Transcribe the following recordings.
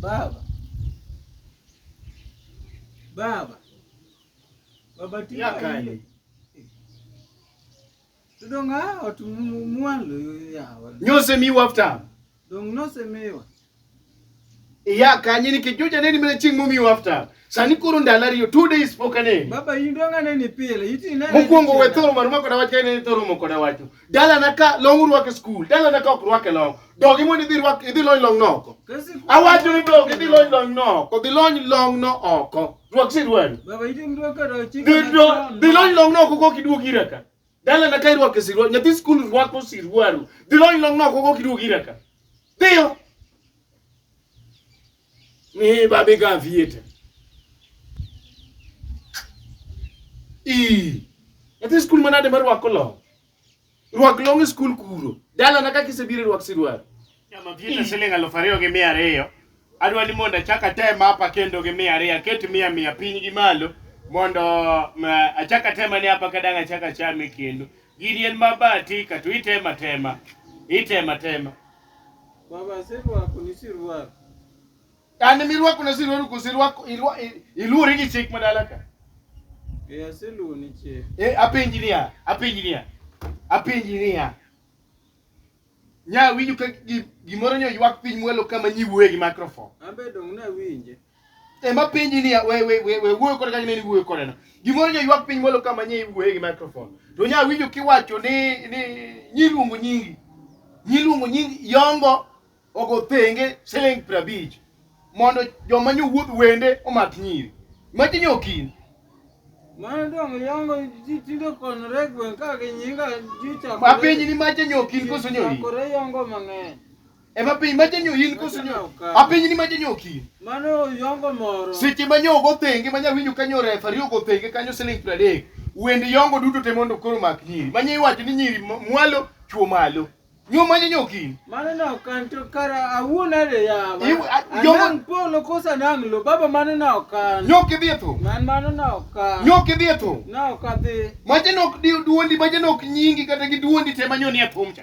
Baba. Baba. Baba tiyo kanye? Tudong a ot mwalo yawa. Nyose mi wafta. Dong nose miwa. Iya kanye ni kijuja neni mene ching mumi wafta. Sani kuru ndala riyo two days poka neni. Baba yindonga neni pile. Mukungo we thoro maru mako dawache neni thoro moko dawacho. dalana ka long urwako e skul dalana ka ok rwak e long dogi mondo idhi rwak idhi lony long noko awacho ni dogi idhi lony long noko dhi lony long no oko rwak sirwani dhi lony long noko kok iduog ira ka dalana ka irwako e sirwani nyathi skul rwako sirwaru dhi lony long noko kok iduog ira ka dhiyo Ni babi ka vieta. I. Ati skul manade mar wako long. Rwak long e skul kuro. Dala na kaka isebiro rwak sirwal. Nyama vieta siling aluf ariyo gi mia ariyo. Adwa ni mondo achak atem hapa kendo gi mia ariyo aket mia mia piny gi malo mondo mm, achak atema ni hapa kadang' achak achame kendo. Gini en mabati ka to itema tema. Itema tema. An mirwako na sirwaro koso irwako iluwori gi chik madala ka. Eh aseluwo ni chik. Eh apenji niya, apenji niya. Apenji niya. Nya winjo ka gimoro nyo ywak piny mwelo kama nyiwuoye gi microphone. Ambe dong na winje. ema penji ni we we we we wuoyo kod kaka nini wuoyo kodeno gimoro nyo ywak piny molo kama nye iwuoye gi microphone to nya winjo kiwacho ni ni nyiluongo nyingi nyiluongo nyingi yongo ogo thenge siling prabich mondo joma nyo wuoth wende omak nyiri machi nyo kin Mano dong yongo ji tinde konore gweng' ka gi nyinga ji chakore. apenji ni machi nyo kin koso nyo ri Chakore yongo mang'eny. Ema piny ma janyo in koso nyo. A piny ni ma janyo kin. Mano yongo moro. Seche ma nyo go thenge ma nyawinyo kanyo refari ogo thenge kanyo siling 30. Wend yongo duto te mondo koro mak nyiri. Manye iwacho ni nyiri mwalo chuo malo. Nyo ma janyo kin. Mano no kan to kara awuon ale ya. Yongo polo kosa nang lo baba mano no kan. Nyo ki dhi tho. Man mano no kan. Nyo ki dhi tho. No ka dhi. Ma janyo duondi ma janyo nyingi kata gi duondi te ma nyo ni e thum cha.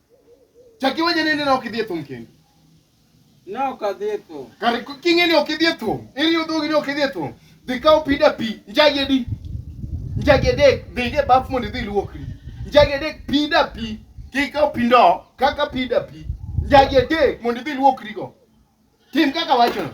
Chak iwinje ni nene ok idhi e thum kendo. Ne ok adhi e thum. Kare k- king'e ni ok idhi e thum. Iriyo dhogi ni ok idhi e thum. Dhi kaw pida pi. Njagi adi? Njagi adek. Dhi e baf mondo idhi iluokri. Njagi adek pida pi. Kik kaw pi ndo. Kaka pida pi. Njagi adek mondo idhi iluokrigo. Tim kaka wachono.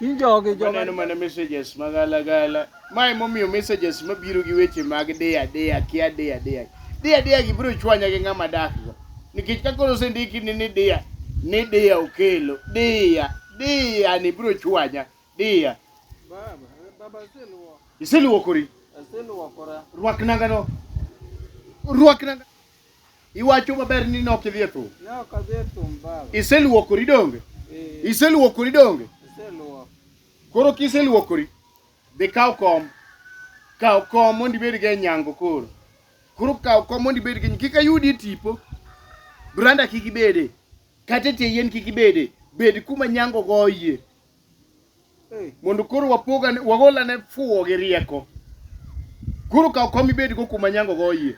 In jogi jogi. Waneno mana messages mag alagala. Ma emomiyo messages mabiro gi weche mag deya deya kia deya deya. Deya deya gi biro chwanya gi ng'ama dak go. Nikech ka koro osendiki ni ni deya ni deya okelo deya deya ni biro chwanya deya. Baba, baba seluo. Iseluokori. Aseluokora. Rwak nangano. Rwak nangano. Iwacho maber ni ne ok idhi e thum. Ne ok adhi e thum baba. Iseluokori donge? Eh. Iseluokori donge? Iseluok. Koro kiseluokori, dhi kaw kom. Kaw kom mondo ibed gi nyango koro. Koro kaw kom mondo ibed gi kik ayudi e tipo. Branda kik ibede. Kata tie yien kik ibede. Bed kuma nyango goyie. mondo koro wapoga wagola ne fuwo gi rieko koro kaw kom ibed go kuma nyango go yie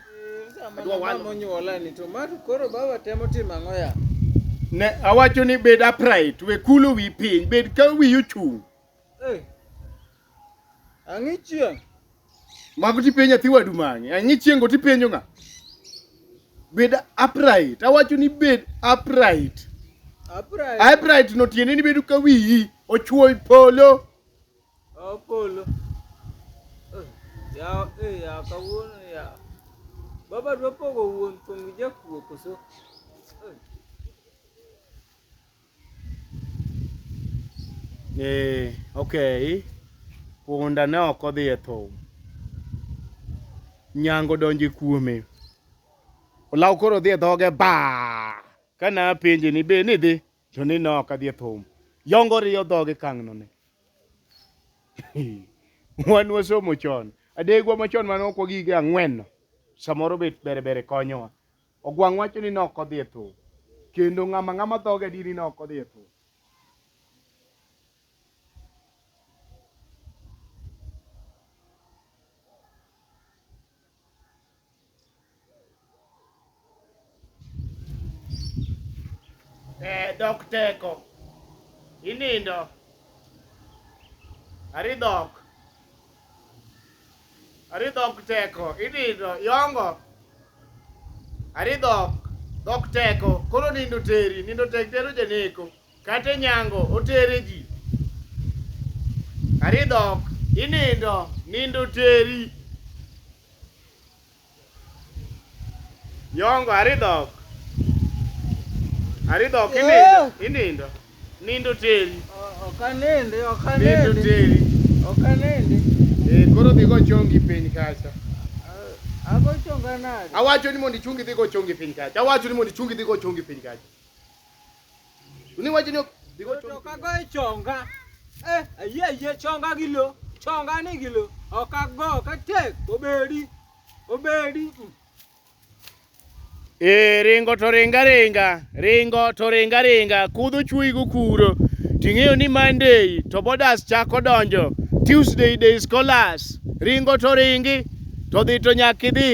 ne awacho ni bed upright we kulo wi piny bed ka wiyi ochung' Ang'i chieng'. Mago tipenjo nyathi wadu mang'e. Ang'i chieng' go tipenjo ng'a? Bed upright. Awacho ni bed upright. Upright. Upright no tiende ni bedo ka wiyi ochwoy polo. Oh, polo. Eh, Ya, eh, ya kawuono ya. Baba dwa pogo wuon thum gi jakuo koso? Eeh, okay. Punda ne ok odhi e thum. Nyango donjo kuome. Olaw koro odhi e dhoge ba. Kana apenje ni be ni dhi to ni ne ok adhi e thum. Yongo riyo dhoge kang'no ne. Wan wasomo chon. Adegwa machon mane ok wagige ang'wen no. Samoro bet bere bere konyowa. Ogwang' wacho ni nok odhi e thoo. Kendo ng'ama ng'ama dhoge di ni nok odhi e thoo. Eh, dok teko. Inindo. Ari dok. Ari dhok teko, inindo, yongo. Ari dhok, dhok teko, koro nindo teri, nindo tek tero janeko. Kate nyango, otere ji. Ari dhok, inindo, nindo teri. Nyongo aridhok. Aridhok inindo, inindo. Nindo teri. Ok anindi, ok anindi. Nindo teri. Ok anindi. Eh, koro dhi go chongi piny kacha. Ago chonga nade? Awacho ni mondo ichungi dhi go chongi piny kacha. Awacho ni mondo ichungi dhi go chongi piny kacha. Ni wacho ni ok digo chonga. Ok ago e chonga. Eh, ayie ayie chonga gi lo. Chonga ni gi lo. Ok ago ka tek obedi. Obedi. E ringo to ringa ringa, ringo to ringa ringa, kudho chuoyi gokuro. Ting'eyo ni Monday to bodas chako donjo. Tuesday day scholars. Ringo to ringi, to dhi to nyaka idhi.